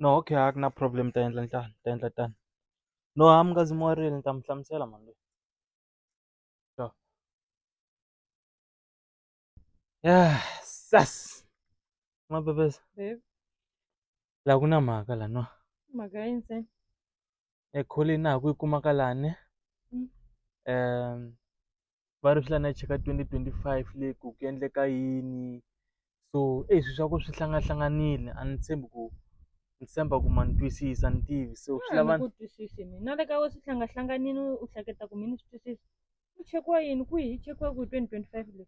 No okay a ku na problem ni ta endla tano ni ta endla tano. No hayi munghezi mi warile ni ta mi hlamusela mhani leyi. Sas mabebes laha ku na mhaka la no Mhaka yini se? e kholini na ha ku yi kumaka lani um va ri swi lava ni ya cheka twenty twenty five leyi ku ku endleka yini so eyi swilo swa kona swi hlangahlanganile a ni tshembi ku ni tshemba ku ma ni twisisa a ni tivi so swi lava ni twisisi mina na le ka wena swi hlangahlanganile u hleketa ku mina ni swi twisisa ku chekiwa yini kwihi yi chekiwa kwihi twenty twenty five leyi.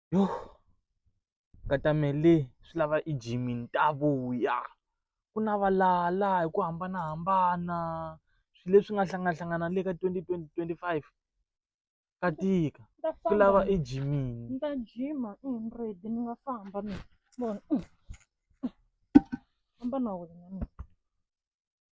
Yo katamele swi lava i jimini ta vuya ku na valala hi ku hambanahambana swilo leswi nga hlanganahlangana le ka twenty twenty twenty five ka tika ku lava i jimini ni ta jima i ni ready ni nga famba mina famba na wena mina.